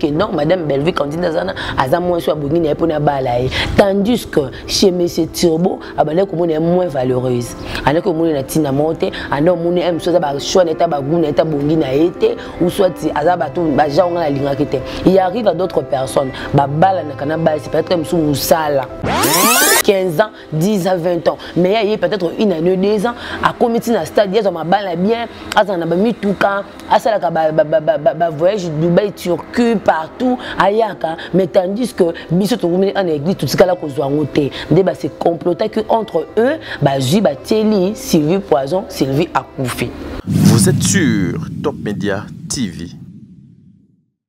que non madame Bellevue Candide azana aza moins soit bongi na pona bala ye tandis que chez monsieur Turbo abale ko mona moins valeureuse ana ko mona na tina monte ana mona em soit ba choix na ta ba goût na ta bongi na été ou soit aza ba tout ba jaunga na linga kete il arrive à d'autres personnes ba bala na kana ba c'est peut-être monsieur musala 15 ans 10 à 20 ans mais aye peut-être une année deux ans akomi ti na stade azwa mabala bien azala na bamituka asalaka bavoyage dubai turquie partout ayaka mais tandis que biso tokomini ana église totikala kozwa yango te nde base complotaki entre eux bazwi batieli sylvie poison sylvie akufi vous êtes sur top media tv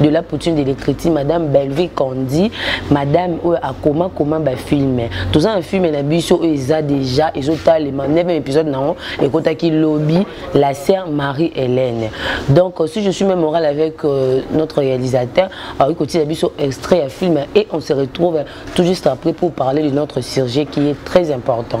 de la poutine de l'écriture madame Bellevue Candy madame oyo akoma koma ba film toza na film na biso oyo eza déjà ezotalema 9 épisode na yango ekotaki lobi la sœur Marie Hélène donc si je suis même morale avec euh, notre réalisateur akoki kotiela biso extrait ya film et on se retrouve tout juste après pour parler de notre sujet qui est très important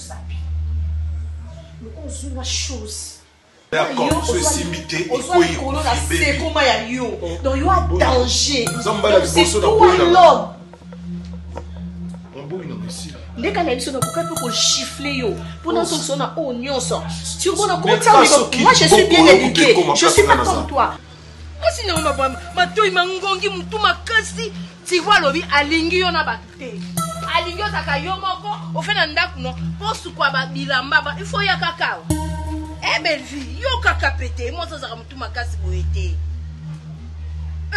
ozoaosekoma ya yo donc yo a danger ndeka na biso nakoka mpe kochiffle yo mpo nazongisa na oyo nyonso tiomona kotia moi je suis bien éduqué je suis pas comme toi kasi na yo matoyi mangongi motu makasi tivo alobi alingi yo na bato te alingi ozaka yo moko ofe na ndako no mpo sukwa babilamba ba, ifo ya kaka awa e eh, belvie yo kaka pete mwasi azalaka motu makasi boye te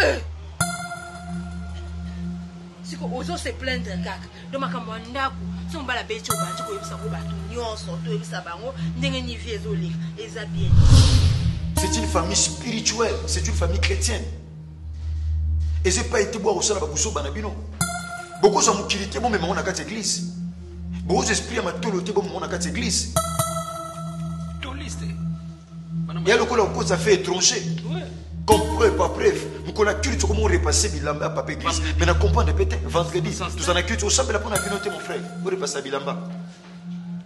eh. siko ozo se plaindre kaka ndo makambo ya ndako so mobala beti obandi koyebisa yango bato nyonso toyebisa bango ndenge nivi ezoleka eza bien c'est une famille spirituelle c'est une famille chrétienne eza epai te boya kosala babuzoba na bino bokozwa mokili te bomema ngo na kati ya eglise bokozwa esprit ya matolo te bomema ngo na kati ya eglise ya lokola okoza fe étranger comme preuve par preuve mokolo ya culte okomi orepasse bilamba ya papa église mais na comprendre mpe te vendredi tozala na culte osambela mpo na bino te mon frère orepassa bilamba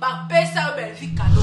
bapesa yo belvi kado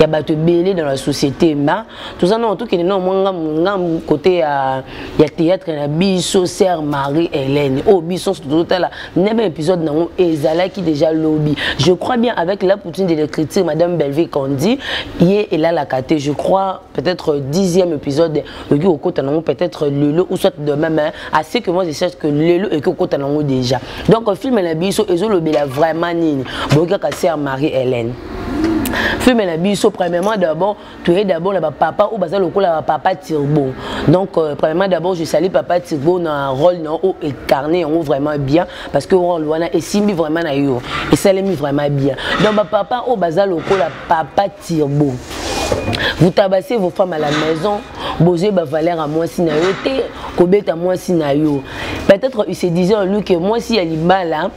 ya bato ebele dans la société ma toza nao tokende nao mwa ngambu kote ya, ya théâtre na biso sœur marie hélène oyo oh, biso nso tozotala nebe épisode nango ezalaki déjà lobi je crois bien avec la poutine de l'écriture madame belleville kandi ye elalaka te je crois peut-être euh, dixième épisode le au côté non peut-être euh, le ou soit demain mais assez que moi je cherche que le et que côté non déjà donc euh, film la biso et le bela vraiment nini bon kaka sœur Marie Hélène film na biso premièrement d'abord toye d'abord na bapapa oyo baza lokola bapapa turbo donc euh, premièrement d'abord je sali papa turbo na rôle na oyo ecarne yango vraiment bien parce que rôle wana esimbi vraiment na yo esalemi vraiment bien donc bapapa oyo baza lokola papa Tirbo. Vous tabassez vos femmes à la maison, bozwe ba valeur à moi si na yo te, kobeta moi si na yo. Peut-être il se disait en lui que moi si ya libala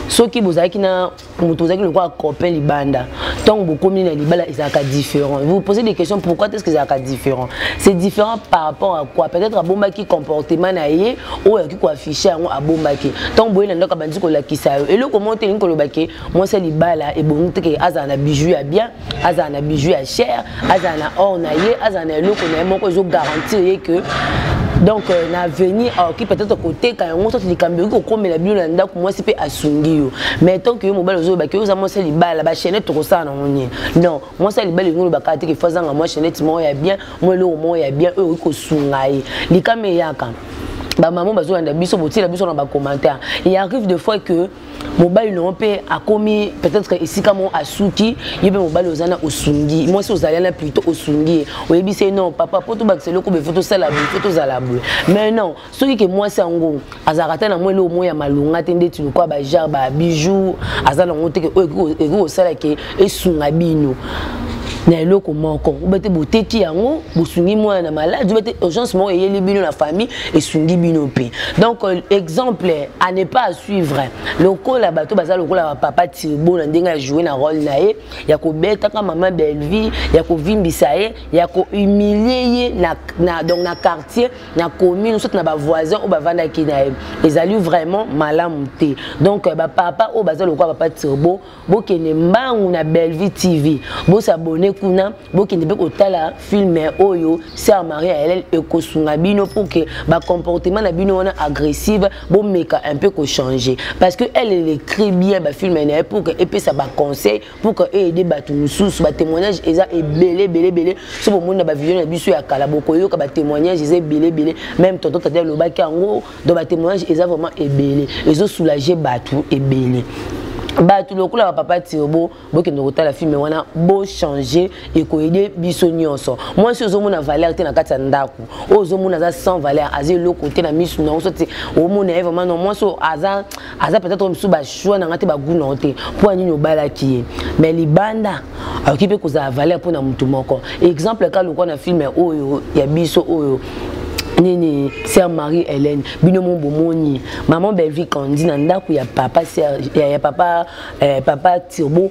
soki bozalaki na moto ozalaki lokola copain libanda ntango bokomi na libala ezalaka différent vous posez des questions pourquoi est ce que ezalaka différent c'est différent par rapport à quoi peut-être abombaki comportement na ye oyo akoki koaffiche yango abombaki ntango boye na ndako abandi kolakisa yo eloko moko te elingi koloba ke mwasi ya libala ebongi te ke azala na bijou ya bien azala na bijou ya cher azala na or na ye azala na eloko na ye moko ezogarantir ye ke donc euh, na avenir aoki ah, peut-être koteka yango soki likambo ekoki kokomela bino na ndako mwasi mpe asungi yo mais tant que yo mobali ozoyebaki oza mwasi ya libala bachenete tokosala nango nini non mwasi ya libala elingi olobaka te kefa azanga mwa chenete moko ya bien mwa eloko moko ya bien oyo okoki kosunga ye likama eyaka bamama bazolanda biso botiela biso na bacommentaire il arrive de fois que mobali na yo mpe akomi peut-être esika moko asuki yo mpe mobali oza na osungi mwasi ozali na plutôt osungi ye oyebisi ye non papa mpo tobakisa eloko boye fo tosala boye fo tozala boye mais non soki ke mwasi yango azalaka ata na mwa eloko moko ya malonga te ndeti lokola bajare babijou aza nango te oyo ekoki kosala ke esunga bino na eloko moko obete boteki yango bosungi mwana na maladi obete urgence moko eyeli bino na famille esungi bino mpe donc euh, exemple à ne pas à suivre lokola bato baza lokola bapapa tirbo na ndenge ya joue na role na ye ya kobetaka mama bellevie ya kovimbisa ye ya kohumilie ye na, na, donc na quartier na commune soki na bavoisin oyo bavandaki na ye ezali vraiment malamu te donc euh, bapapa oyo baza lokola papa tirbo bokende mbangu na bellevue tv bosabone kuna bokende mpe kotala filme oyo sœur marie aelel ekosunga bino mpo ke bacomportement na bino wana agressive bomeka un peu kochange parce que elle elle écrit bien bafilme na ye pour ke epesa baconseil pour ke eaide bato mosusu batémoignage eza ebele ebele ebele so bomoni na bavideo na biso ya kala bokoyoka batémoignage eza ebele ebele même tonton tata elobaki yango donc ba témoignage eza vraiment ebele ezo soulager bato ebele bato lokola bapapa tiobo bokende kotala filme wana bochange ekoyede biso nyonso mwasi ozomona valeur te na kati ya ndako oyo ozomona aza sans valeur aza eloko te na misu na oso te omona ye vraiment no mwasi oyo aza aza peut-être mosusu bachoix na ngai te bagu na yo te mpo ya nini obalaki ye mais libanda akoki mpe kozala valeur mpo na motu moko exemple ka lokwa na filme oyo ya biso oyo nini sœur marie hélène bino mo bomoni maman belvi kandi na ndako ya papa ya papa eh, papa turbo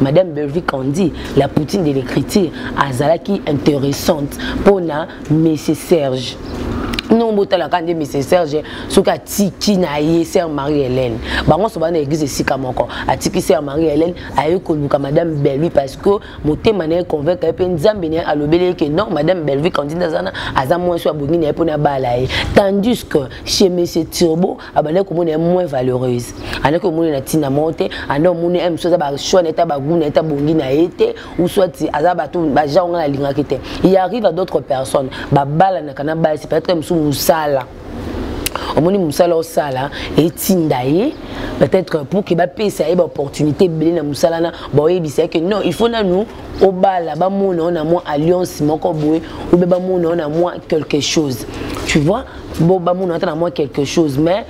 madame Bellevue Candy la poutine de l'écriture azalaki intéressante mpo na monsieur Serge non botalaka nde mise serge soki atiki na ye sere marie hélène bango nyonso bana église esika moko atiki sere marie hélène aye koluka madame belvi parce que motema na ye convaincre ye mpe nzambe na ye alobeli ye ke non madame belvi kandida azana aza mwasi abongi na ye mpo nabala ye tandis que chez monsieur turbo abandaki komona ye moins valeureuse andaki omoni na ntina moko te anda omoni ye mosusu aza bachoix na ye ta bagout na ye ta bongi na ye te ou soit aza bato bagenre ngai nalingaki te il arrive à d'autres personnes babalanaka na basi peut-être mosusu mosala omoni mosala osala etinda ye peut-être pour ke bapesa ye baopportunité ebele na mosala na baoyebisa ye ke non il faut nanu obala bamona yo na mwa alliance moko boye obe bamona yo na mwa quelque chose tu vois bo bamona ata na mwa quelque chose mais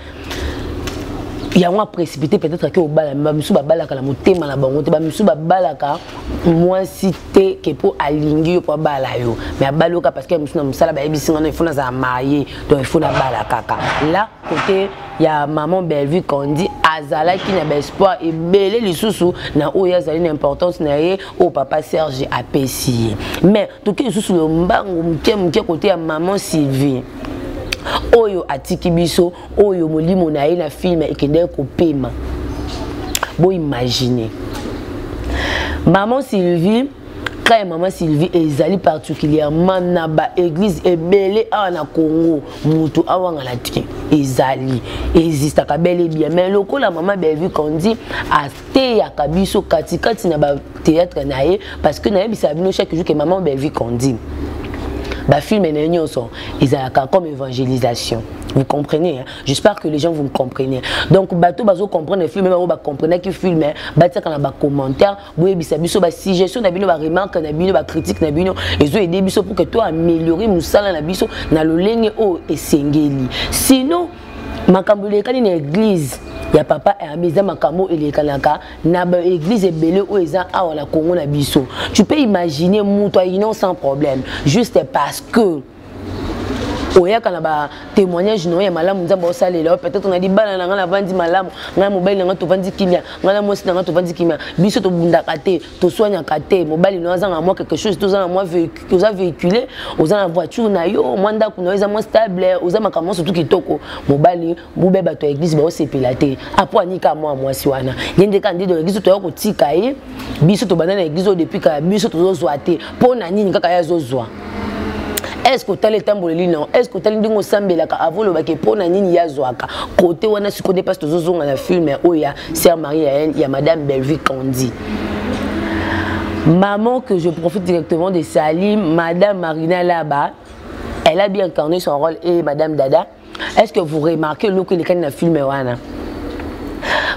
yango aprécipité peut-être ake obala me bamisusu babalaka na motema na bango te bamisusu babalaka mwasi te ke mpo alingi yo mpo abala yo mais abali yoka parce que misusu na mosala bayebisi ngana ifo nazala marie donc ifo nabala kaka la kote ya maman bellevue kandi azalaki na baespoir ebele lisusu na oyo azali na importance na ye oyo papa serge apesi ye mais toke lisusu lombango moke moke kote ya maman sylvie oyo atiki biso oyo molimo na ye na filme ekendaki kopema boimagine maman sylvie cas ya mama sylvie ezali particulièrement na baeglise ebele awa na congo moto awangana te ezali existaka bel ebien mais lokola mama bellevue kandi teyaka biso katikati na batheatre na ye parce que nayebisaka bino chaque jour ke maman bellevue candine bafilme na ye nyonso ezalaka comme évangélisation vous comprenez hein? j'espère que les gens vous me comprenez donc bato bazo comprendre film bango bacomprenaki film batiaka na bacommentaire boyebisa biso basuggestion na bino baremarque na bino bacritique na bino ezo aide biso pour que to améliorer mosala na biso na lolenge oyo esengeli sinon makambo elekani na eglize ya papa herbe eza makambo elekanaka na baeglize ebele oyo eza awa na congo na biso tu peux imaginer moto aino sans problème juste parce que oyaka na batémoignage na yo ya malamu nzambe osalela yo peut-être na libala na ngai navandi malamu ngai na mobali na ngai tovandi kimia ngai na mwasi na ngai tovandi kimia biso tobundaka te toswaniaka te mobali no aza na mwa quelque chose toza na mwa oza véhicule oza na voiture na yo mwa ndako na yo eza mwa stable oza makambo nyonso tu kitoko mobali bobe bato ya église baosepela te apo anika mwa mwasi wana ye nde kaka nde na église toya kotika ye biso tobanda na église oyo depuis kala biso tozozwa te mpo na nini kaka ye azozwa est ce que otali etamboleli na yo est ce que otali ndenge osambelaka avo olobaki mpo na nini ye azwaka kote wana sikoyo nde mpasi tozozonga na filme oyo ya sœur marie yael ya madame bellevue candy maman que je profite directement de salim madame marina laba elle a bien incarné son rôle et madame dada est ce que vous remarquez eloko elekani na filme wana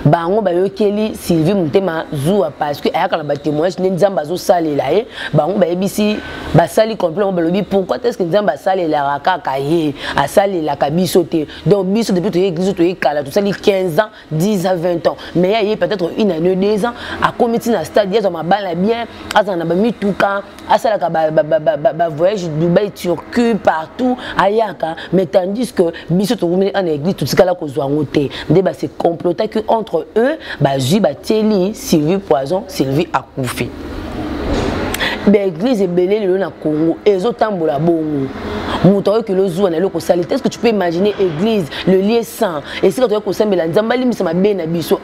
bango bayokeli sylvie motema zuwa parce que ayaka na batémoignage nde nzambe azosalela ye bango bayebisi basali complet yango balobi pourquoi est ce que nzambe asalelaka kaka ye asalelaka biso te donc biso depuis toye église toye kala tosali 15 ans 10 à 20 ans mais aye peut-être une année deux ans akomi ti na stade azwa mabala bien azala na bamituka asalaka bavoyage dubai turquie partout ayaka mais tandis que biso tokomeli ana église totikala kozwa yango te nde base complotaki entre eux bazwi batieli sylvie poison sylvie akufi baeglise ebele lelo na congo ezotambola bongo moto akoki lozuwa na eloko osali te ce que tu peux imaginer église le lieu saint esika toyaki kosambela nzambe alimbisa mabe na biso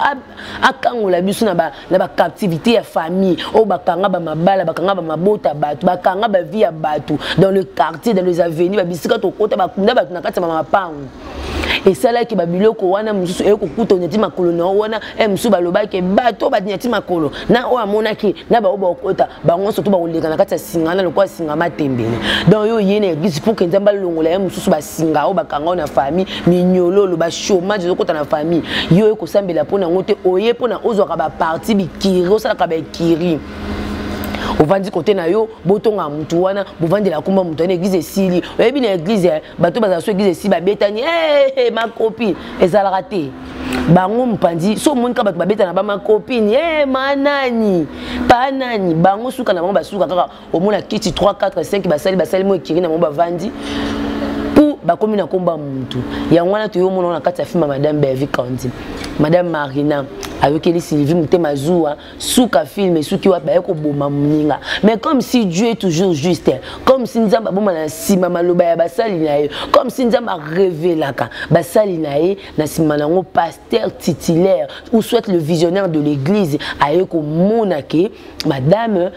akangola biso na bacaptivité ya famille oyo bakanga bamabala bakanga bamabota bato bakanga bavie ya bato dans le quartier dans les avenues babisika tokota bakunda bato na kati ya bamapango esalaki babiloko wana mosusu eye kokuta onyati makolo na yo wana e mosusu balobaki bato oyo banyati makolo na oyo amonaki na baoyo bakokota bango nyonso to bakoleka na kati ya singa na lokola singa matembele donc yo oye na eglise mpo kenza balongola ye mosusu basinga oyo bakanga oyo na famille minyololo bachomage ezokota na famille yo oye kosambela mpo na yango te oye mpo na ozwaka baparti bikiri osalaka baekiri ovandi kote na yo botonga motu wana bovandela kumba motu wana eglize esili oyebi na eglize eh, bato bazala so eglize esili babetani eh, eh, makopi ezalaka te bango mopanzi so omoni kaka bato babetana bamakopini e manani panani bango suka na bango basuka kaka omona kiti 3 4 5 basali basali mo ekiri na bango bavandi bakomi na komba mutu yango wana toyo mona na kati ya filme madame Bevi Kandi madame Marina ayokeli Sylvie mutema zuwa suka film esuki wapi baye koboma moninga mais comme si dieu est toujours juste comme si nzambe aboma na nsima maloba ya basali na ye comme si nzambe arevelaka basali na ye na nsima na yango pasteur titulaire ou soit le visionnaire de l'église aye komona ke madame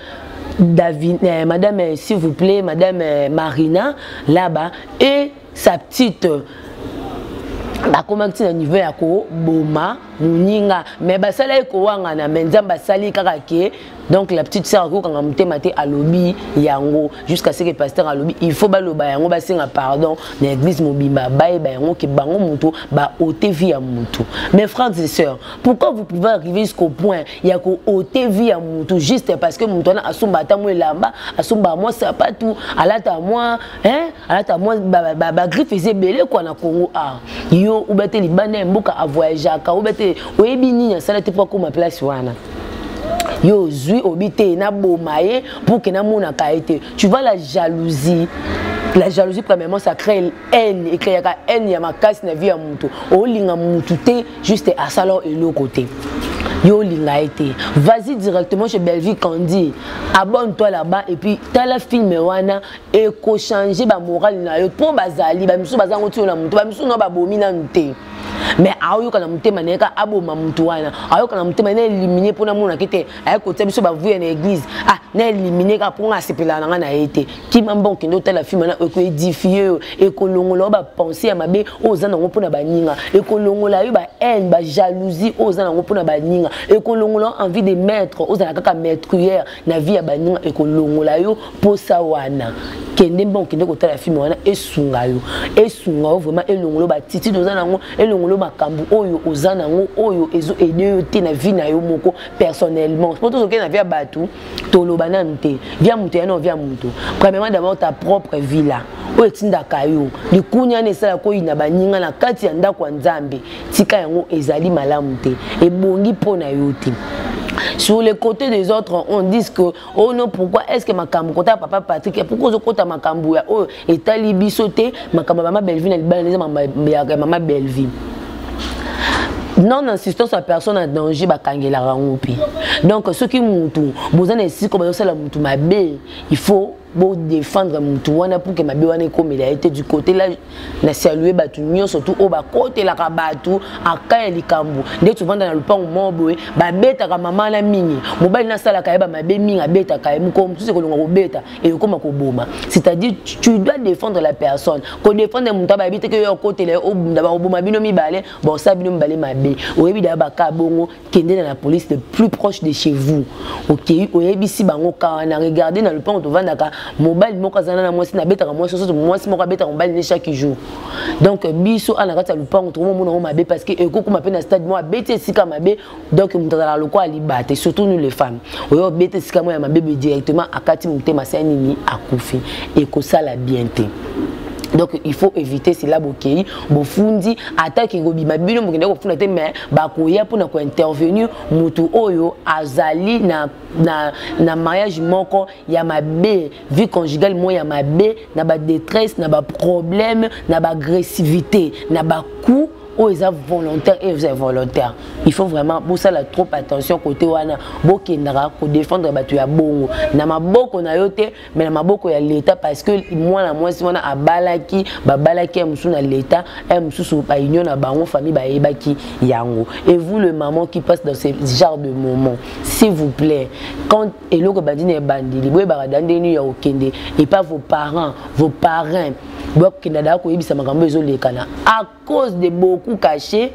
David, euh, madame, euh, s'il vous plaît, madame euh, Marina, là-bas, et sa petite bakomaki na niveau ya koboma moninga mais basala ye kowangana mais nzambe asali kaka ke donc la petite sœur akokanga motema te alobi yango jusqu'à ce que pasteur alobi il faut baloba yango basenga pardon na église mobimba bayeba yango ke bango moto baote vie ya motu mais frères et sœurs pourquoi vous pouvez arriver jusqu'au point ya koote vie ya motu juste parce que moto wana asomba ata mwa elamba asomba mwa sapatu alata mwa hein alata mwa bagriffe eza ebele kua na congo a ah, yo obe te libanda ya mboka avoyageaka obe te oyebi nini asala te mpo akóma place wana yo ozwi obi te naboma ye mpo ke namonaka ye te tu vois la jalousie la jalousie premièrement ça crée haine ekreaka haine ya makasi na vie ya moto olinga motu te juste asala eloko te yo olinga ye te vas-y directement chez bellevue candy abonne toi là-bas et puis tala film wana ekochange bamorale na yo mpo bazali bamisusu baza yango tiyo na moto bamisusu na babomi nanu te mais aoyoka na motema na ye ka aboma moto wana ayoka na motema na elimine mpo namonaki te aye kotia biso bavuya na église ah na elimine kaka mpo nga asepelaka na ngai na ye te kima mba okende otala filme na ekoedifie yo ekolongola yo bapense ya mabe oyo oza nango mpo na baninga ekolongola yo bahaine bajalousie oyo oza nango mpo na baninga ekolongola yo envie de maître ozala kaka maîtrière na vie ya baninga ekolongola yo mposa wana kende mpe okende kotala filme wana esunga yo esunga yo vraiment elongolo batitide oza nango elongolo makambo oyo oza nango oyo ezo aide yo te na vie na yo moko personnellement mpo tozokende na vie ya bato toloba nanu te vie ya moto yana vie ya moto premièrement d'abord ta propre vie là oyo etindaka yo likunia na esala koyina baninga na kati ya ndako ya nzambe tika yango ezali malamu te ebongi mpo na yo te sur le côté des autres on dit que oh non pourquoi est-ce que makambo kota papa Patrick et pourquoi ozokota makambo ya oyo etali biso te makambo ya mama Bellevue na libala neza ya mama Bellevue non insistance ya personne en danger bakangelaka yango mpe donc soki mutu boza na esika bazosala mutu mabe il faut bo défendre mutu wana pour que mabe wana ekomela ye te du côté là na salue bato nyonso tu oyo bakotelaka bato aka ya likambo nde tovanda na lopango moko boye babetaka mama na mingi mobali nasalaka ye bamabe mingi abetaka ye mokolo mosusu ekolonga kobeta ekokoma koboma c'est-à-dire tu dois défendre la personne kodéfendre moto abayebi te ke yo okotela ye obunda bakoboma bino mibale bosala bino mibale mabe oyebi daya baka bongo kende na la police le plus proche de chez vous okei oyebisi bango ka wana regarde na lopango tovandaka mobali moko azana na mwasi nabetaka mwasi soso mwasi moko abetaka mobali ne chaque jour donc biso ana kati ya lopango tokomomona yango mabe parce que ekokoma mpe na stade moko abeti esika mabe donc moto azalaka lokola liba te surtout nous les femmes oye obeti esika moko ya mabe boye directement akati motema se ya nini akufi ekosala bien te donc il faut éviter cela bokei bofundi ata ke kobima bino bokenda kofunda te mais bakoya mpona kointervenir motu oyo azali na, na, na mariage moko ya mabe vie conjugale moko ya mabe na badetresse na baproblème na baagressivité na bacout oyo eza volontaire et vous êtes volontaire il faut vraiment bosala trop attention côté wana bokendaka kodefendre bato ya bongo na maboko na yo te mais na maboko ya leta parce que mwana mwasi wana abalaki babalaki ya mosusu na leta ya mosusu baunion na bango famille bayebaki yango et vous le maman qui passe dans ce genre de moment s'il vous plaît quand eloko ebandi na ebandeli boyebaka da ndenge nini ya kokende epa vos parents vos parrains bokenda daa koyebisa makambo ezolekana cause de beaucoup caché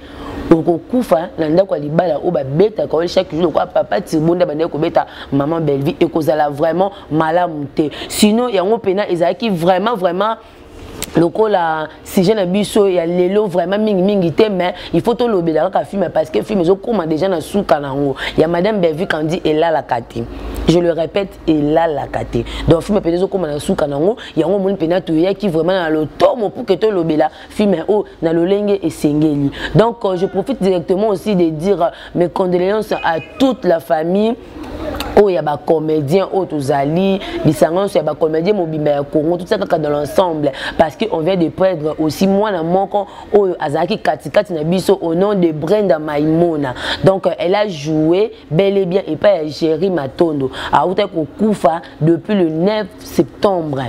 okokufa na ndako ya libala oyo babetaka oyo chaque jour lokola papa tirbonda bandaki kobeta maman bellevie ekozala vraiment malamu te sinon yango mpena ezalaki vraiment vraiment lokola sujet na biso ya lelo vraiment mingi mingi te mais il faut tolobela kaka film parce que film ezokoma déjà na suka na yango ya madame bellevue kandi elalaka te je le répète elalaka te donc film mpenza ezokoma na suka na yango yango omoni mpenza toyaki vraiment na lotomo pour que tolobela film oyo na lolenge esengeli donc euh, je profite directement aussi de dire euh, mes condoléances à toute la famille oyo ya bacomédien oyo tozali lisanga nyonso ya bacomédien mobimba ya congo totia kaka dans l'ensemble parce que on vient de perdre aussi mwana moko oyo azalaki katikati na biso au nom de brenda maimona donc elle a joué bel et bien epai ya géri matondo autaki kokufa depuis le 9 septembre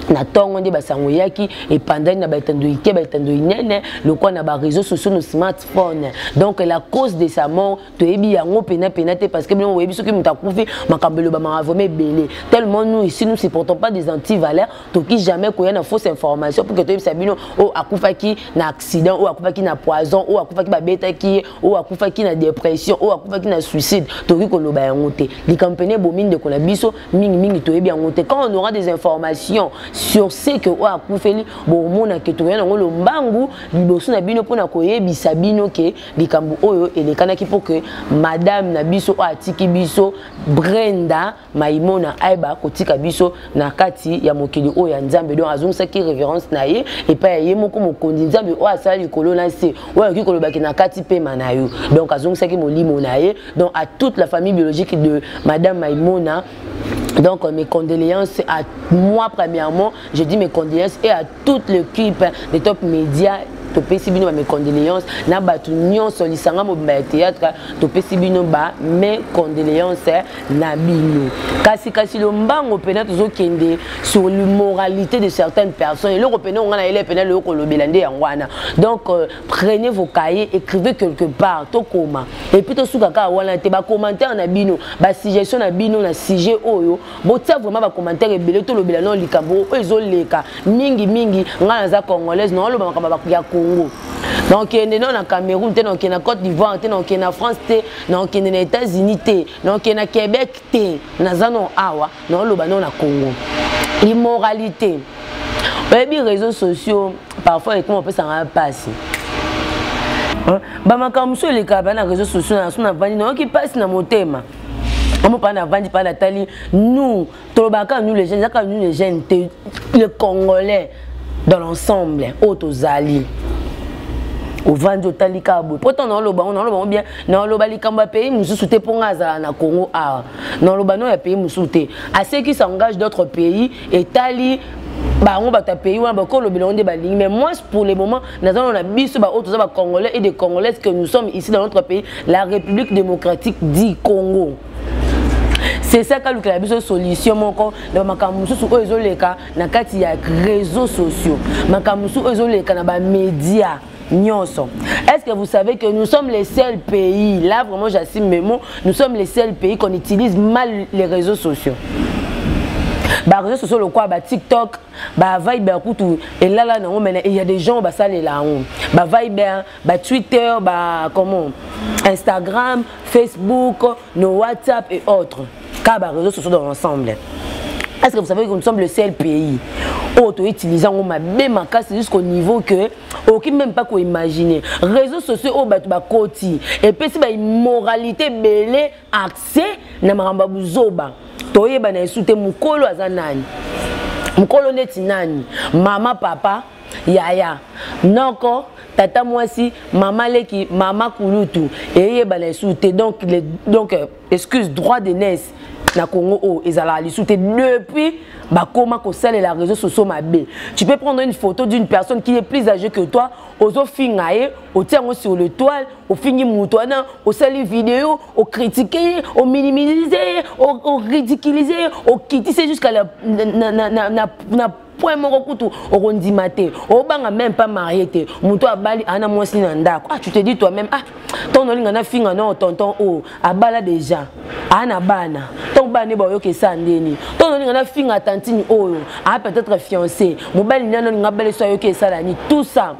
na ntongo nde basango eyaki epandani na baetando ike baetando inene lokola na bareseau sociaux no smartphone donc la cause de sa mort toyebi yango pena pena te parce que bino boyebi soki moto akufi makambo elobamaka vraimen ebele tellement nous ici nous supportons pas des antivaleurs toki jamais koya na fausse information pour que toyebisa bino oyo akufaki na accident oyo akufaki na poison oyo akufaki babetaki ye oyo akufaki na dépression oyo akufaki na suicide toki koloba yango te likambo mpene ebomi ndeko na biso mingimingi toyebi yango te quand on aura des informations sur ce que oyo akufeli bomona ke tokoya nango lombangu liboso na bino mpona koyebisa bino ke likambo oyo elekanaki mpo ke madame na biso oyo atiki biso brenda maimona ayeba kotika biso na kati ya mokili oyo ya nzambe donc azongisaki révérence na ye epai ya ye moko mokonzi nzambe oyo asala likolo na se oyo akoki kolobaki na kati mpema na yo donc azongisaki molimo na ye donc à toute la famille biologique de madame maimona donc mes condoléances à moi premièrement je dis mes condoléances et à toute l'équipe de top média topesi bino bame condoléance na bato nyonso lisanga mobimba ya théâtre topesi bino bame condoléance na bino kasi kasi lombango mpena tozokende sur l'immoralité de certaines personnes eloko mpena onga na yele mpena loyo kolobela nde yango wana donc euh, prenez vos cahiers écrivez quelque part tokoma epuis tosuka kaka wana te bacommentaire na bino basuggestion na bino na sujet oyo botia vraiment bacommentaire ebele tolobela nao likambo oyo ezoleka mingi mingi ngai naza congolaise naoloba makambo ya congo nakokende nao na cameroun te nakokende na côte d'ivoire te nakokende na france te nakokende na états-unis te nakokende na québec te naza nao awa naoloba nao na congo immoralité oyebi réseaux sociaux parfois ekoma opesanga mpasi bamakambo mosusu elekaka bana réseaux sociaux na so na vandi nayoki mpasi na motema omo mpana avandi mpana atali nous tolobaka kaka nous les jeunes eza kaka nous les jeunes te le congolais dans l'ensemble oyo oh, tozali ovandi otali kaka boye mpo ntango naoloba yango naoloba yango bien naoloba likambo ya pays mosusu te mpo ngai azala na congo awa naoloba no ya pays mosusu te aseki s'engage d'autres pays etali bango bato ya pays wana bakolobela yango nde balingi mais moi pour le moment nazalona na biso baoyo toza bacongolais et de congolaise que nous sommes ici dans notre pays la république démocratique du congo c'est ça kalukela biso solution moko na makambo mosusu oyo ezoleka na kati ya réseaux sociaux makambo mosusu oyo ezoleka na bamédia nyonso est-ce que vous savez que nous sommes les seuls pays là vraiment j'assume mes mots nous sommes les seuls pays qu'on utilise mal les réseaux sociaux bareseau sociaux lokola batiktok ba viber kutu elala nango mena il y a des gens basalela yango ba viber ba twitter ba comment instagram facebook nos whatsapp et autres car ba réseaux sociaux dans l'ensemble est ce que vous savez que nous sommes le seul pays oyo toutilize yango mabe makasi jusqu'au niveau que okoki même pas koimagine réseaux sociaux oyo bato bakoti epesi baimmoralité ebele accès na makambo ya buzoba toyebana esu te mokolo aza nani mokolo neti nani mama papa yaya noko tata mwasi mama leki mama kulutu eyebana esu te donc, le, donc euh, excuse droit de naissance na Congo oh, ezalaka lisusu te depuis bakoma kosalela réseau sociaux mabe tu peux prendre une photo d'une personne qui est plus âgée que toi ozofinga ye otia yango sur le toile ofingi moto wana osali video okritike ye ominimilise ye oridikilise ye okitise jusqu'à la, na, na, na, na, na, na point moko kutu okondima te obanga meme pas marie te moto abali ana mwasi na ndako ah tu te dis toi même ah ntongo olinga nafinga nao tonton o oh, abala déjà ana bana ntongo bana nde bayoka esa ndeni ntongo olinga nafinga tantine oyo a peut-être fiancé mobali nani olinga abala eso ayoki esalani tout ça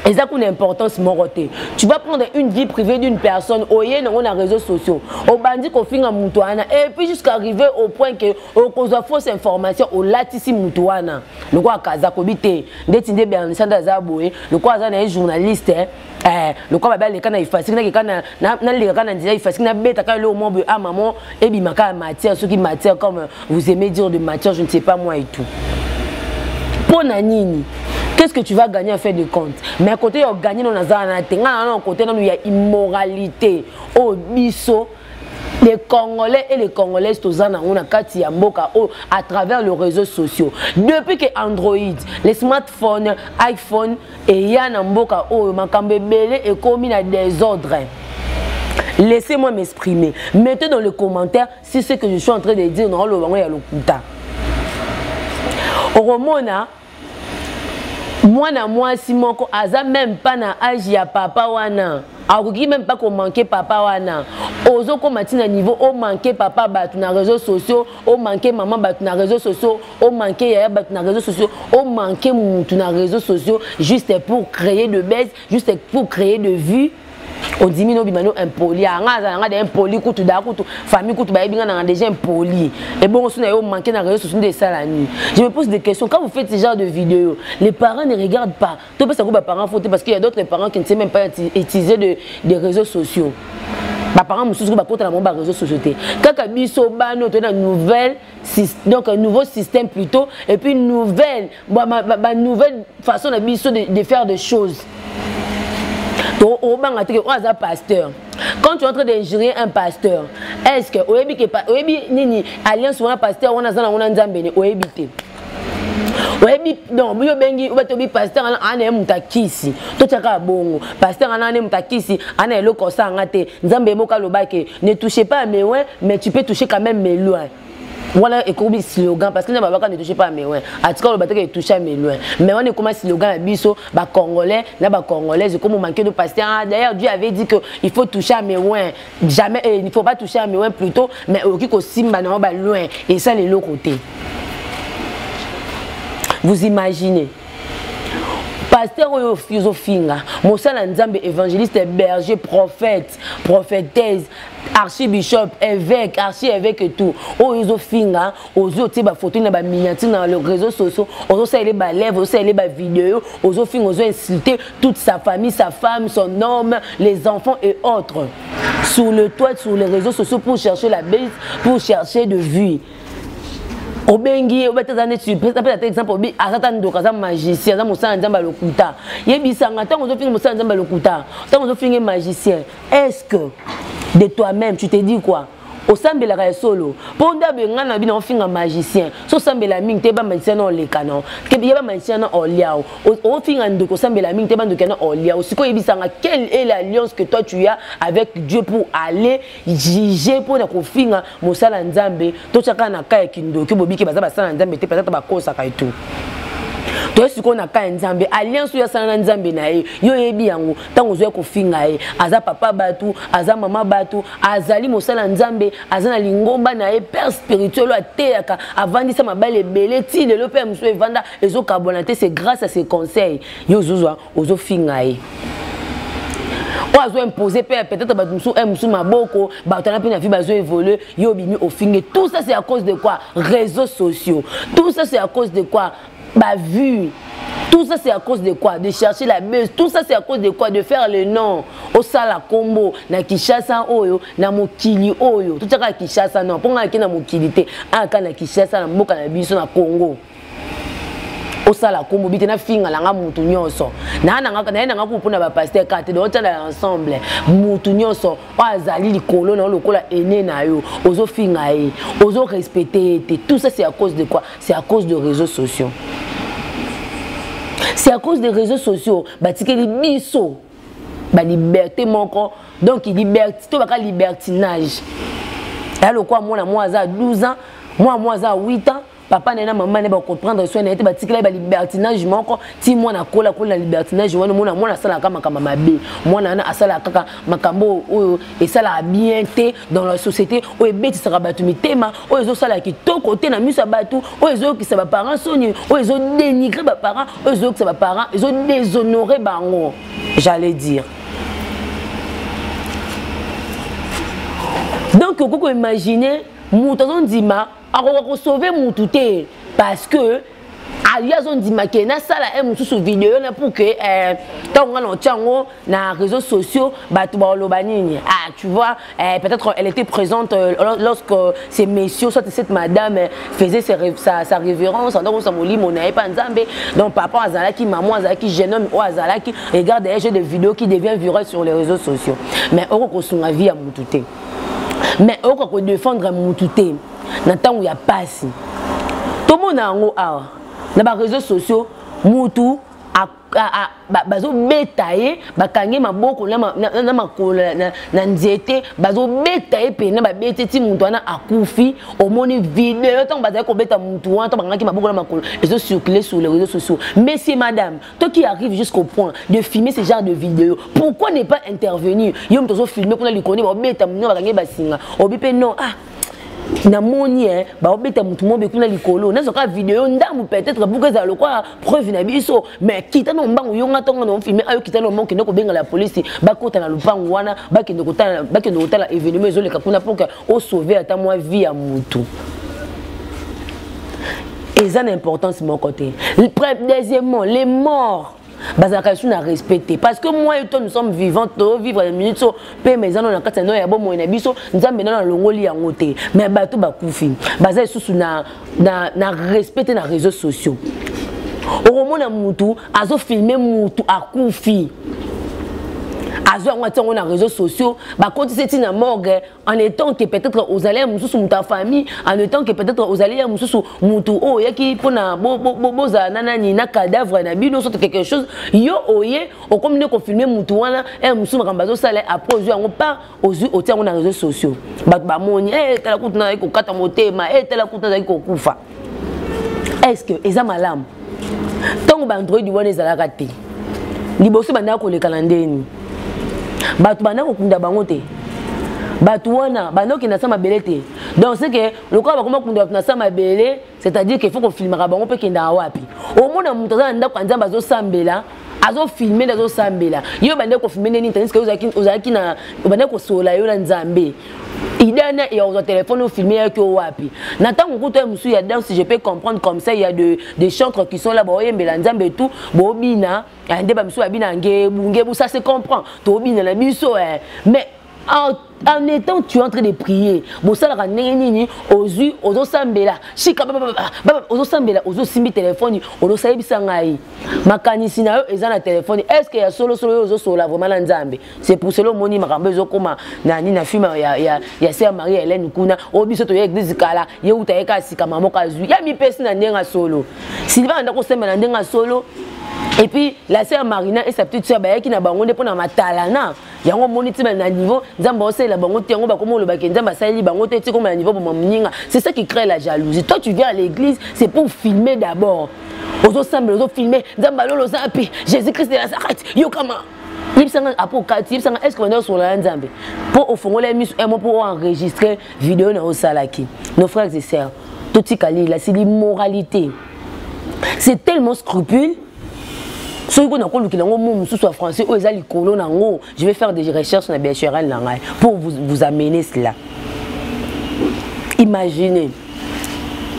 eza kuna importance moko te tu vas prendre une vie privée d'une personne oye nango na réseaux sociaux obandi kofinga moto wana et puis jusqu'à arriver au point que okozwa fausse information olatisi moto wana lokola kazakobi te ndeti nde bernisanda aza boye lokola aza na ye journaliste eh, lokola babe aleka na ifasiki nakeka nalekaka na nzela ifasiki nabetaka eloko moko boye ah maman ebima kaka matière soki matière comme vous aimez dire de matière je ne sais pas moi et tout mpo na nini qu'est-ce que tu vas gagner en fin de compte mais côté ya ogagner nano naza wana te ngai nano côté nano ya immoralité oyo oh, biso les congolais et les congolaises toza nango na kati ya mboka oyo à travers le réseau sociaux depuis que android les smartphones iphone eya na mboka oyo makambo ebele ekomi na desordre laissez-moi m'exprimer mettez dans le commentaire si ce que je suis en train de dire naoloba yango ya lokuta okomona mwana mwasi moko aza meme mpa na age ya papa wana akoki meme mpa komanke papa wana ozokoma ntina niveau omanke papa bato na réseau sociaux o manque maman bato na réseaux sociaux o manque yaya bato na réseaux sociaux o manque mutu na réseaux sociaux juste pour créer de baisse juste pour créer de vue ondimi no bima no impoli ya nga azala nga da impoli kutu da kutu famille kutu bayebi nga nanga déjà impoli ebongo so na yo manque na réseau sociaux nde esala nini je me pose des questions quand vous faites ce genre de vidéo les parents ne regardent pas To pesa ko ba parents faut parce qu'il y a d'autres parents qui ne savent même pas utiliser de des réseaux sociaux. Ba parents mususu ba kota na ba réseaux sociaux te. Kaka biso bano to na nouvelle donc un nouveau système plutôt et puis nouvelle ba, ba, ba nouvelle façon na biso de, de faire des choses. To obanga te ko aza pasteur. quand tu es en train d'injurier un pasteur est ce que oyebi ke oyebi nini alliance wana pasteur wana aza nango na nzambe ne oyebi te oyebi donc biyo bengi obato bi pasteur ana ana muta kisi to chaka bongo pasteur ana ana muta kisi ana eloko sanga te nzambe moka lobake ne touchez pas à mes loin mais tu peux toucher quand même mes loin wana ekomi slogan parce que na babaka ne touche pas mes loin atika oloba te ke touche à mes loin mais wana ekoma slogan ya biso ba congolais na ba congolaises ekomi manque de pasteur ah, d'ailleurs Dieu avait dit que il faut toucher à mes loin jamais eh, il faut pas toucher à miwen plutôt mais okoki kosimba na yo ba loin esala eloko te vous imaginez pasteur oyo ozofinga mosala nzambe évangéliste berger prophète prophétese archibishop évêque archi évêque et tout oyo ezofinga ozo otie ba photo na ba miniature na le réseau sociaux ozo sala ba lèvres ozo sala ba vidéo ozo finga ozo insulter toute sa famille sa femme son homme les enfants et autres sur le toit sur les réseaux sociaux pour chercher la base pour chercher de vue obengi ye obeta aza neti apesa ata exemple obi aza ta ndoka aza magicien aza mosala ya nzambe ya lokuta yebisanga ntango ozofinga mosala ya nzambe ya lokuta ntango ozofinga magicien est ce que de toi-même tu te dis quoi osambelaka ya solo mpo nde abenga na bino ofinga magicien so osambela mingi te bamagicien na oleka na ye bamagicien na oliao ofinga ndoki osambela mingi te bandoki na oliao sikoy oyebisanga quelle est l'alliance que toi tu as avec dieu pour aller juger mpo na kofinga mosala nzambe totyaka na ka ya kindoki bobiki baza basala nzambe te patata bakosaka etu toye sikoyo na ka ya nzambe alliance oyo asala na nzambe na ye yo oyebi yango ntango ozwai kofinga ye aza papa bato aza mama bato azali mosala ya nzambe aza na lingomba na ye père spirituel oyo ateyaka avandisa mabale ebele ti lelo mpe ya mosusu evanda ezokabwana te c'est grâce à ses conseils yo ozozwa ozofinga ye oyo azo impose mpe peut-être bato mosusu e mosusu maboko bato wana mpe na vie bazo évolue yo obimi ofinge tout ça c'est à cause de quoi réseaux sociaux tout ça c'est à cause de quoi ba vue tout ça c'est à cause de quoi de chercher la buzz tout ça c'est à cause de quoi de faire le nom osala kombo na Kinshasa oyo na mokili oyo tout ça ka Kinshasa non ponga ki na mokili te aka ah, na Kinshasa na mboka na biso na Congo osala kombo bite na finga langa mutu nyonso na na nga na na nga ko pona ba pasteur kate do tala ensemble mutu nyonso o azali likolo na lokola ene na yo ozo finga ye ozo respecter te tout ça c'est à cause de quoi c'est à cause de réseaux sociaux c'est à cause des réseaux sociaux batikeli biso baliberte moko donc liberté to baka libertinage ya lokola mwana mwa aza 12 ans mwana mwa aza 8 ans papa na ye na mama ne bacomprendre soin na ye te batikela ye balibertinage moko ti mwana akola akola na libertinage wana mwana mwana asalaka makambo mabe mwana wana asalaka kaka makambo oyo esalaka bien te dans la société oyo ebetisaka bato mitema oyo ezosala kitoko te na miso ya bato oyo ezoyokisa baparent soni oyo ezodénigre baparent oyo ezoyokisa baparent ezodéshonore bango j'allais dire donc okoki koimagine moto azondima akoka ko sauver mutu te parce que ayo azondima ke nasala ye mosusu video na pour ke eh, ntango ngai naotya yango na réseaux sociaux bato baoloba nini ah tu vois eh, peut-être elle était présente euh, lorsque ces messieurs soit cette madame eh, faisait sa, sa, sa révérence en sa molimo na ye mpa nzambe donc papa azalaki maman azalaki jeune homme oyo azalaki regarde ye jeu de vidéo qui devient virale sur les réseaux sociaux mais oko kosunga vie ya motu te mais oyoka kodefendre mutu te na ntango ya pasi tomona yango awa na bareseau sociaux mutu bazobeta ye bakangi maboko na makolo na nzete bazobeta ye mpena babeti ti moto wana akufi omoni video ntango bazali kobeta motu wana to bakangaki maboko na makolo ezosurcule sur les réseaux sociaux monsieur madame Toi qui arrive jusqu'au point de filmer ce genre de vidéo, pourquoi ne pas intervenir Yo mtozo filmer kuna likoni ba beta mno ba kange basinga. Obi pe non ah namoni eh, baobeta motu mobe kuna likolo nazoka video ndambu peut-être buku ezala lokola preuve na biso mais kita na mbangu yo nga ntongo na ofilme ayo kita na mbangu kende kobengala ya polisi bakota na lopango wana bakende kotala bakende kotala événement ezoleka kuna mpo o sauver ata mwa vie ya mutu eza na importance moko te deuxièmement les morts bazalaka lisusu na respect te parce que moi et toi nous sommes vivants tovivre na minute so mpema eza nano na kati ya nao ya bomoi na biso nzambe nano alongoli yango te mais bato bakufi baza lisusu na na, na respect te na réseaux sociaux okomona mutu azofilme mutu akufi azwi yango atia yango na réseaux sociaux bakotisi eti na morgue en étant que peut-être ozali ya mosusu moto ya famille en étant que peut-être ozali ya mosusu moto oyo oyaki mpona bozala na nani na cadavre na bino soki quelque chose yo oye okomi nde kofilme moto wana e eh, mosusu makambo azosala apres ozwi yango par ozwi otia yango na réseau sociaux bato bamoni e eh, tala kutu nazali kokata motema e tala kutu nazali kokufa est ce que eza malamu ntango baandroidi wana ezalaka te liboso bandaka koleka na ndeni bato bandaka kokunda bango te bato wana bandakokenda sa mabele te donc seke lokola bakoma kunda bato na sa mabele c'est-à-dire qu'il faut kofilmaka bango mpe kendaka wapi omona moto aza na ndako ya nzambe azosambela azofilme nde azosambela yo obandaki kofilme nde nini tandisike ozalaki na obandaki kosolola yo na nzambe idana ya kozwa telefone ofilme yaki o wapi na ntango kutu ya mosusu ya danse je peux comprendre comme ça ya de, de chantre qui sont là baoyembela nzambe tout bobina eh, nde bamisusu babina ngebu ngebu ça se comprend tobina na biso eh. mais en, en étant tu es en train de prier bosalaka ndenge nini ozwi ozosambela shika ozosambela ozosimbi telefoni ozosalebisa ngai makanisi na yo eza na telefoni est ce que ya solosolo yo ozosolola vraiment na nzambe c'est pour cela omoni makambo ezokoma na nini na filme ya, ya, ya sœur marie helene kuna oyo oh, biso toya eglise kala ye uta ye kaka sika mama moko azwi ya mipesi na ndenge ya solo siliba na ndako osambela na ndenge ya solo et puis la sœur marina et sa petite sœur bayaki na bango nde mpo na matalana yango omoni ti na niveau nzambe aosalela bango te yango bakoma oloba ke nzambe asaleli bango te tikoma na niveau boma moninga c'est ça qui crée la jalousie toi tu viens à l'église c'est pour filmer d'abord ozosambela ozofilme nzambe alolo oza mpe jésus christ de nazareth yokama yebisanga apo okati yebisanga est ce que banda osolola ya nzambe mpo ofongola ye miso emo mpo oenregistre video na osalaki nos frères et sœurs totika lila c'est l'immoralité c'est tellement scrupule soki ko nakolukela yango mo mosusu ya français oyo eza likolo na yango je vais faire des recherches na bhrl na ngai pour vous, vous amener cela imaginez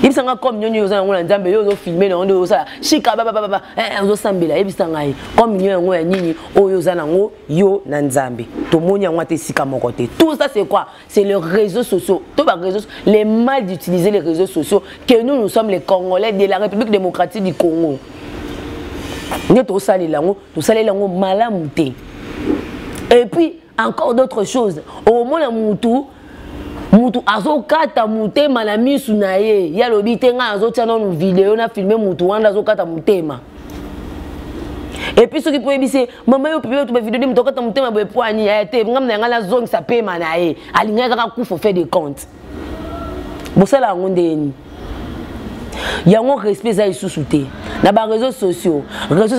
yebisa ngai comme nyonyo oza yango na nzambe yo ozofilme na yango nde osala shika babababa eh, eh, ozosambela yebisa ngai comme nyo yango ya nini oyo oza na yango yo na nzambe tomoni yango ata esika moko te tout ça c'est quoi c'est le réseau sociaux to ba réseaux les mal d'utiliser les réseaux sociaux que nous nous sommes les congolais de la république démocratique du congo nde tosalela yango tosalela yango malamu te et puis encore d'autres choses omona mutu mutu azokata motema na misu na ye ye alobi te ngai azotya nanu video na filme mutu wana azokata motema epuis soki mpo oyebisi mama yo pipe tuba video de moto okata motema boye po ani ya te ngambo na yangai nazongisa pema na ye alingaki kaka kufa ofait de compte bosala yango ndenge nini yango respect eza lisusu te na bareseau sociaux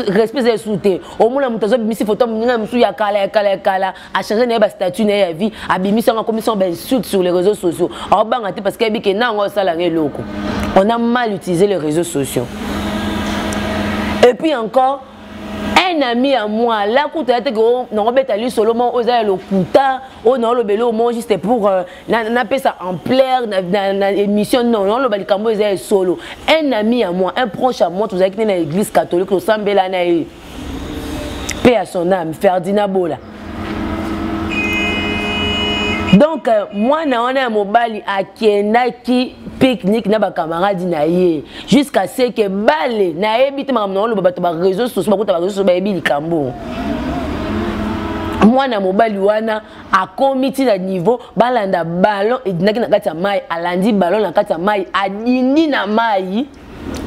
respect eza lisusu te omona moto azobimisi foto moninga ya mosusu ya kala ya kala ya kala achange na ye bastatut na ye ya vie abimisi yango akomisi yango bainsulte sur les réseaux sociaux aobanga te parce que ayebi ke na yango osala yango eloko on a mal utilisé les réseaux sociaux et puis encore un ami ya moi la kutu ya teke oh, nakobeta lisolo moko oyo eza ya lokuta oyo oh, naoloba eloko moko juste pour euh, napesa ampleur na émission non naoloba likambo oyo eza ya solo un ami ya moi un proche ya moi tozalaki nde na église catholique tosambela na ye mpe ya son ame ferdinand bola donc euh, mwana wana ya mobali akendaki pique-nique na bacamarade na ye jusqu'à ce que bale nayebi te makambo na oloba bato bareseau sociaux bakota bareseau sociaux bayebi likambo mwana mobali wana akomi ti na niveau balanda ballon edinaki na kati ya mai alandi ballon na kati ya mai adindi na mai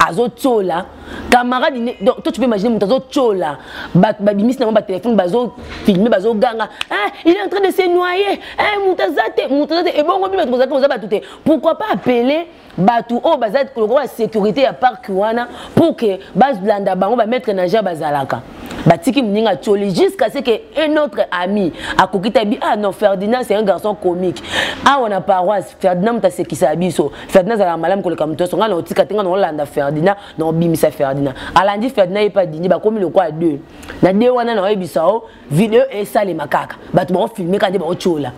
azotyola camarade ne donc toi tu peux imaginer moto azotyola babimisi na bango batelefone bazofilme bazoganga ah, il est en train de se noyer eh, moto aza te moto aza te ebongo bi bato bozalaka boza bato te pourquoi pas appeler bato oyo baza lokola sécurité ya parc wana pour que balanda bango bamettre na ger bazalaka batiki moninga atyoli jusqu'à ce que un autre ami akoki tabi ah non ferdinand c'est un garçon comique awa na paroisse ferdinand moto asekisa biso Ferdinand azalaka malamu koleka moto nyonso ngai na otika te ngai na olanda Ferdinand na obimisa Ferdinand alandi Ferdinand ye mpe adindi bakomi lokola deux na de wana na oyebisa o video esalema kaka bato baofilme kaka nde baotyola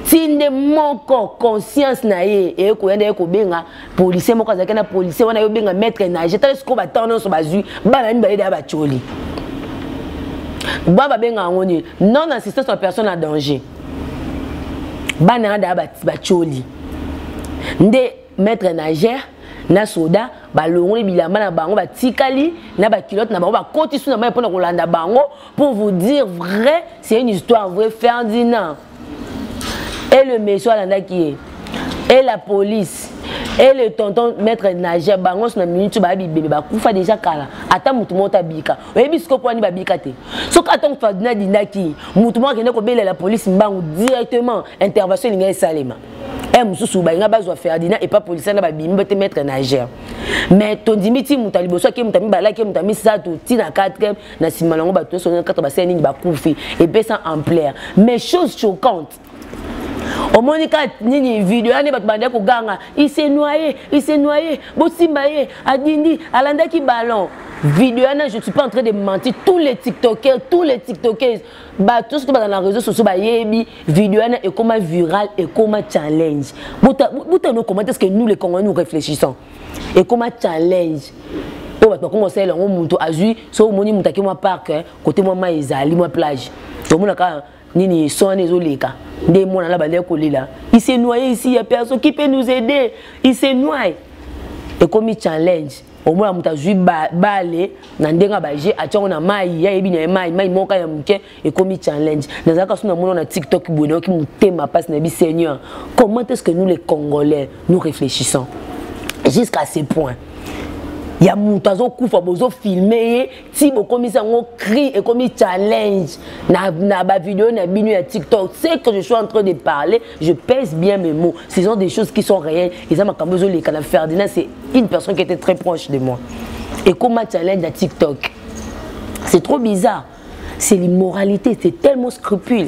ti nde moko conscience na ye eye koya nde ye kobenga policier moko azalaki na policier wana ye obenga maître nage tala sikoyo batano nyonso bazwi bana mibale deya batyoli ba babenga yango nini non assistance ya personne à danger bana nga daa batioli nde maître nagere na soda balongoli bilamba na bango batikali na bakilote na bango bakoti su na mai mpona kolanda bango pour vous dire vrai c'est une histoire vrai ferdinand et le monsieur alandaki ye et la police et le tonton maître nagere bango su na minute baya bibebe bakufa deja kala ata motu moko tabika oyebi sikoyo mpo wani babika te soki atango fadina adinaki motu moko akende kobelela polisi mbangu directement intervention elingai esalema e mosusu balinga bazwa ferdinand epa polisi na babimi bate maître nagere mais tondimi ti moto ya liboso ake moto ya mibale ake moto ya misato ti na 4 na nsima na yango bato nyonso kaka basala nini bakufi epesa ampleur mais chose choquante omoni ka nini video yani bato bandaki koganga ise noye ise noye bosimba ye adindi alandaki ballon video wana je suis pas en train de mentir tous les tiktokers tous les tiktokers bato nyonso to bazala na réseau sociaux bayebi video wana ekoma viral ekoma challenge botano commente ce que nous les congolais nous réfléchissons ekoma challenge oyo bato bakoma kosalela yango moto azwi so omoni moto ake mwa parke kote mwa mai ezali mwa plage omonaka nini son wana ezoleka nde mwana na bandaki kolela il se noye ici ya perso qui peut nous aider il se noye ekomi challenge omona moto azwi bale na ndenge ya baje atyango na mai ya yebi na ye mai mai moka ya moke ekomi challenge nazalaka so namona na tiktok boye nayoki motema mpasi nayebi seigneur comment est ce que nous les congolais nous réfléchissons jusqu'à ce point ya moto azokufa bozofilme ye ti bokomisi yango cri ekomi challenge na, na bavideo na bino ya tiktok ce que je suis en train de parler je pèse bien mes mots ce sont des choses qui sont réelles eza makambo ezoleka na ferdinand c'est une personne qui était très proche de moi ekoma challenge ya tiktok c'est trop bizarre c'est l'immoralité c'est tellement scrupule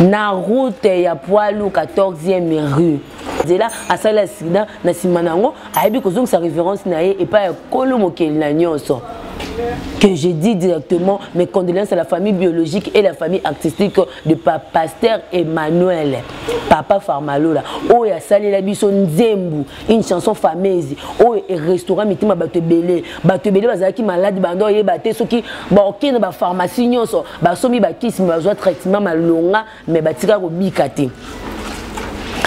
na route ya poilu 14e rue nzela asali accident na nsima na yango ayebi kozongisa référence na ye epai ya kolo mokeli na nyonso que je dis directement mes condoléances à la famille biologique et la famille artistique de pa pasteur emmanuel papa farmalola oyo asalela biso nzembu une chanson fameuse oyo erestaura mitima bato ebele bato ebele bazalaki maladi banda oyeba te soki baokei na bapharmacie nyonso basombi bakisi me bazwa traitement malonga me batika kobika te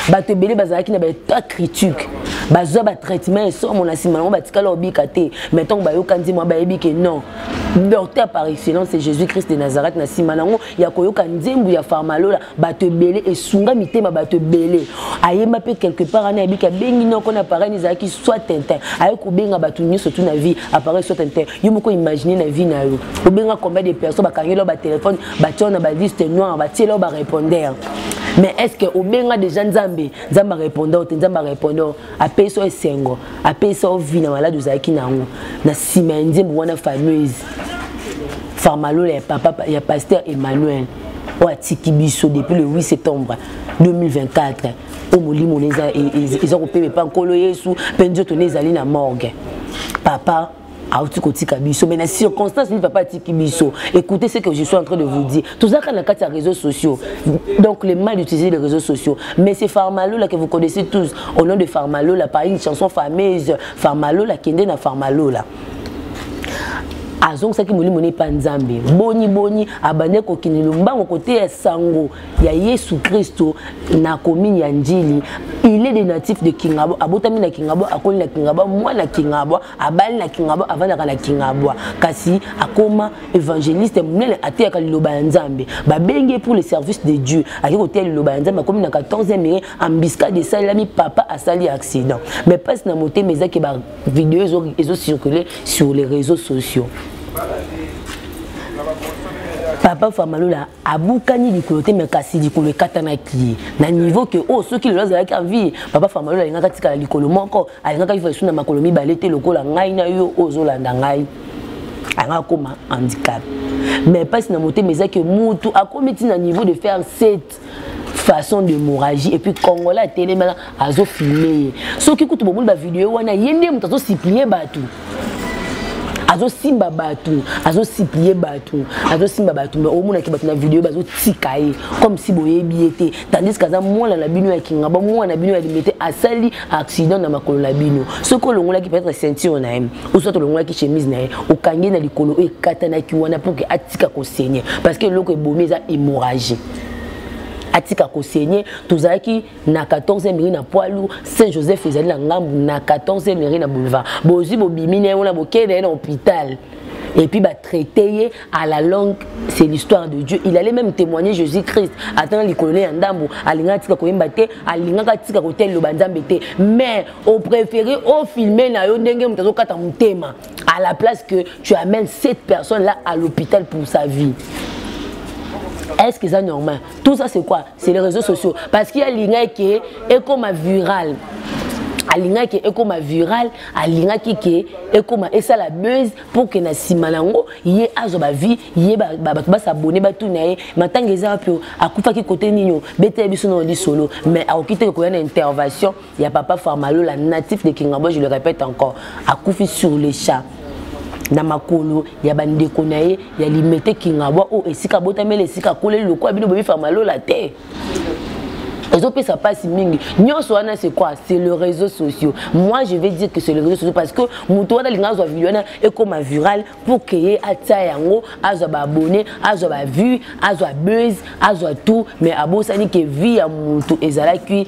bato ebele bazalaki na baetat critique bazwa batraitement esomo na nsima yango batikala kobika te mai ntango bayoka nzembo bayebi ke non docteur par excellence jésus christ de nazareth na nsima na yango ya koyoka nzembo ya farmalola bato ebele esunga mitema bato ebele ayemba mpe quelque part ana yebiki abengi noko na appareil ezalaki soit tintin aye kobenga bato nyonso tu na vie appareil soit tintin yo moko imagine na vie na yo obenga combien de personnes bakangeli yo batelefone batia yo na baliste noire batiela yo barépondeur mais est ce que obenga déjà nzambe nzambe arépondre yo te nzambe arépondre yo apesa yo esengo apesa yo vie na malade ozalaki na yango na nsima ya nzembo wana fameuse farmalola ya papa ya pasteur emmanuel oyo atiki biso depuis le 8 septembre 2024 oyo molimo na eza kopema epa nkolo yesu mpe nzoto na ezali na morgue papa auti kotika biso mais na circonstance nini papa atiki biso écoutez ce que je suis en train de vous dire tozalaka na kati ya réseaux sociaux donc le mal d'utiliser les réseaux sociaux mais c'est farmalola que vous connaissez tous au nom de farmalola par une chanson fameuse farmalola kende na farmalola azongisaki molimo na epa nzambe boni boni abande kokende lombango koteya sango ya yesu kristo na komini ya njili il est de natif de kingabwa abotami na kingabwa akoli na kingabwa mwana kingabwa abali na kingabwa avandaka na kingabwa kasi akoma évangéliste monene ateyaka liloba ya nzambe babengi pour le service de dieu ake koteya liloba ya nzambe akomi na 14 ere embuscade esalelami papa asali accident mais mpasi na motema ezaki video ezo, ezo circuler sur les réseaux sociaux papa famalola abukani likolo te me kasi likolo ekatanaki ye na niveau ke oyo oh, soki lelo azalaki envie papa famalola alingaka tikala likolo moko alingaka ifa esu na makolo mibale te lokola ngai na yo oyo ozolanda ngai alingaka akoma handicap mais mpasi na motema eza ke mutu akomi ti na niveau de faire sete façon d'hémorragie et puis congolais atelemela azofilme ye soki kutu bomoni bavideo wana ye nde moto azosiplie bato azosimba bato azosiplie bato azosimba bato me omonaki bato na video bazotika ye comme si boyebi ye te tandis kaza mwana na bino ya kingaba mwana na bino ya limete asali accident na makolo na bino soki olongolaki peut-être ceinture na ye oso tolongolaki chemise na ye okangi na likolo oyo ekatanaki wana mpo ke atika kosenye parce que eloko ebomi eza hémorragie atika kosenye tozalaki na 14 mairie na poilu saint joseph ezali na ngambu na 14 mairie na boulevard bozwi bobimi na ye wana bokende ye na hôpital epuis batraite ye à la longue c'est l'histoire de dieu il allait même témoigner jésus christ atanga likolo ne ya ndambo alingaka tika koyemba te alingaka tika kotia liloba nzambe te mais au préféré ofilme na yo ndenge moto azokata motema à la place que tu amènes cette personne là à l'hôpital pour sa vie est-ce que ça normal tout ça c'est quoi c'est les réseaux sociaux parce qu'il y a l'ingé qui est comme viral alingaki ekoma viral alingaki ke ekoma esala buzz pour que na sima nango ye azo ba vie ye ba ba ba s'abonner ba tout nae matanga eza wapi akufa ki côté nino bete biso na li solo mais akokite ko yana intervention ya papa Farmalo la natif de Kingabo je le répète encore akufi sur le chat na makolo ya bandeko na ye ya limete kingabwa oyo esika abotameli esika akoleli lokola bino bomi famalola te ezopesa mpasi mingi nyonso wana c'est quoi c'est le réseau sociaux moi je vais dire que c'est le réseau sociaux parce que moto wana alinga azwa video wana ekoma viral pour que ye atia yango azwa baabonné azwa bavue azwa buzz azwa tout mais abosani ke vie ya moto ezalaki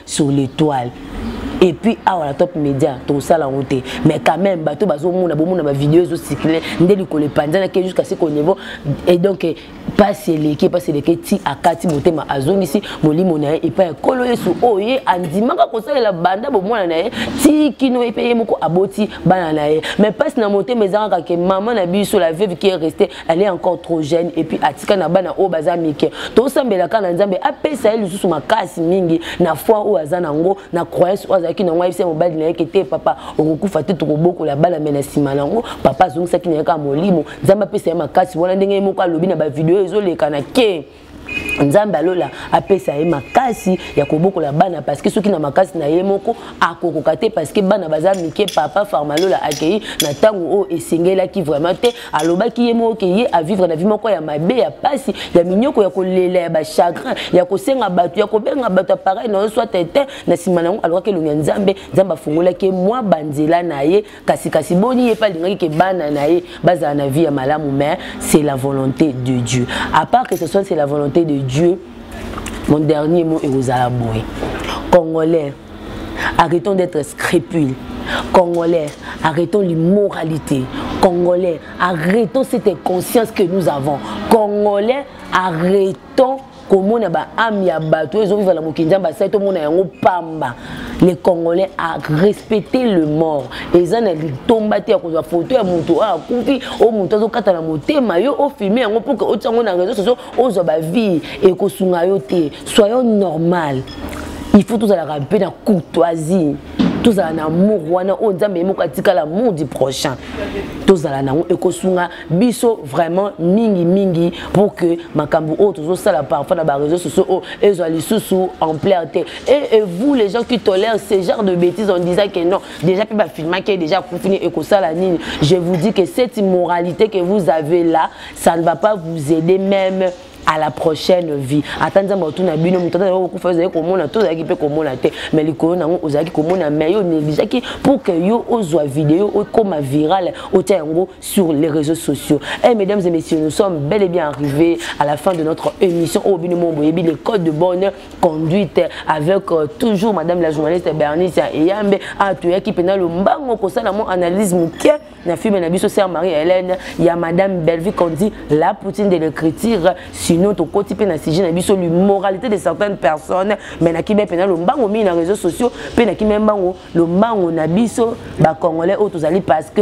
sur l'étoile et puis awa na top média tokosala yango te mais quand même bato bazomona bomona bavideo ezocircule nde likolo epanzanaki jusqu'à ce qu'au niveau et donc mpasi eleki mpasi eleki ti akati motema azongisi molimo na ye epai ya nkolo yesu oyo ye andimaka kosalela banda bomwana na ye ti kino ye mpe ye moko aboti bana na ye mais mpasi na motema eza kaka ke mama na biso la veuve qui est reste elle est encore trop jeune et puis atika na bana oyo baza mike tosambela kaka na nzambe apesa ye lisusu makasi mingi na foi oyo aza nango na croyance oyo azalaki nango ayebisa mobali na ye ke te papa okokufa te tokobokola bana me na nsima nango papa azongisaki na ye kaka molimo nzambe apesa ye makasi wana ndenge ye moko alobi na bavideo ezoleka na ke nzambe ya lola apesa ye makasi ya kobokola bana parceke soki na makasi na ye moko akokoka te parceke bana baza mike papa farmalola akei na ntango oyo esengelaki vraiment te alobaki ye moko ke ye avivre na vi moko ya mabe ya mpasi ya minyoko ya kolela ya bachagrin ya kosenga bato ya kobenga bato apareil na yo swa tete na nsima na yango alokaki elongi ya nzambe nzambe afungolaki ye mwa banzela na ye kasi kasi boni ye mpe alingaki ke bana na ye bazala na vie ya malamu mais c'est la volonté de dieu à part que ce soit c'est la volonté de dieu mon dernier mot ekozala boye congolais arrêtons d'être scrupule congolais arrêtons l'immoralité congolais arrêtons cette inconscience que nous avons congolais arrêtons komona ba ame ya bato oyo ezovivre na mokili nzambe asali tomona yango pamba le congolais a respecte le mort eza na litomba te ya kozwa foto ya moto oyo akufi oyo moto azokata na motema yo ofilme yango mpo ke otia yango na réseau sociaux ozwa bavie ekosunga yo te soyons normal il faut tozalaka mpe na courtoisie tozala na amour wana oyo nzambe ye moko atikala amour du prochain tozala na yango ekosunga biso vraiment mingi mingi pour que makambo oyo tozosala parfois na bareseau sociaux oyo oh, ezwa lisusu ampleur te et, et vous les gens qui tolèrent ce genre de bêtises en disant que non déjà mpe bafilmaki déjà akufini ekosala nini je vous dis que cette immoralité que vous avez là ça ne va pas vous aider même à la prochaine vie ata nzambe otuna bino moto ata okokufa ozali komona to ozalaki mpe komona te mais likolo na yango ozalaki komona mais yo negligaki pour que yo ozwa video okoma virale otya yango sur les réseaux sociaux. Et eh, mesdames et messieurs, nous sommes bel et bien arrivés à la fin de notre émission au Binomombo Yebi, les codes de bonne conduite avec euh, toujours madame la journaliste Bernice Eyambe à Touya qui pénal le mbango pour ça mon analyse mouké na film na biso sœur Marie Hélène ya madame Bellevue qu'on dit la poutine de l'écriture sinon to koti pe na sujet na biso l'immoralité de certaines personnes mais na kibe pénal le mbango mi na réseaux sociaux pe na kibe mbango le mbango na biso ba congolais autres parce que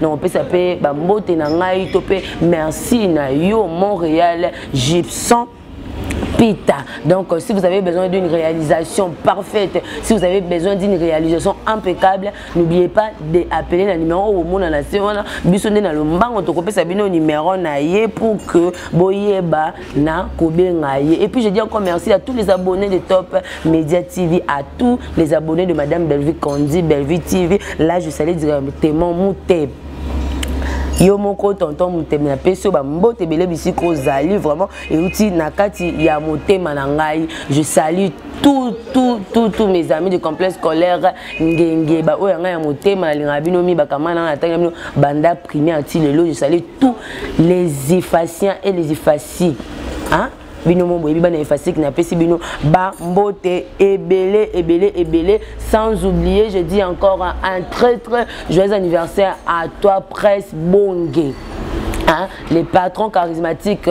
nakopesa mpe bambote na ngai to mpe merci na yo montréal gibson pita. Donc, euh, si vous avez besoin d'une réalisation parfaite, si vous avez besoin d'une réalisation impeccable, n'oubliez pas d'appeler le numéro au monde na se wana biso nde na lombango tokopesa bino numéro na ye pour que boyeba na kobenga ye et puis je dis encore merci à tous les abonnés de Top Media TV à tous les abonnés de madame Bellevue Candy Bellevue TV là je salue directement Moutep yo moko tonton motema na pesi yo bambote ebele bisika ozali vraiment euti na kati ya motema na ngai je salue tout tout tout tout mes amis de complexe scolaire ngenge baoyo ya ngai ya motema nalingaka bino mi bakamana na ntangi ya bino banda primaire ti lelo je salue tous les effaciens et les effacis hein? bino mo boyebi bana efasiki napesi bino bambote ebele ebele ebele sans oublier je dis encore un très très joyeux anniversaire à toi presse bonge hein? les patrons charismatiques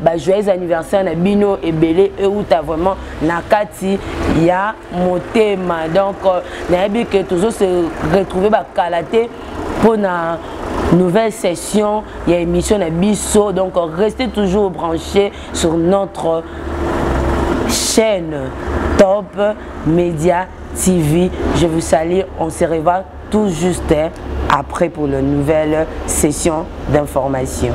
ba joyeux anniversaire na bino ebele euta vraiment na kati ya motema donc euh, nayebi ke tozo se retrouver bakala te mpo na nouvelle session ya émission na biso donc euh, restez toujours branché sur notre chaîne top média tv je vous salue on se revoit tout juste après pour la nouvelle session d'information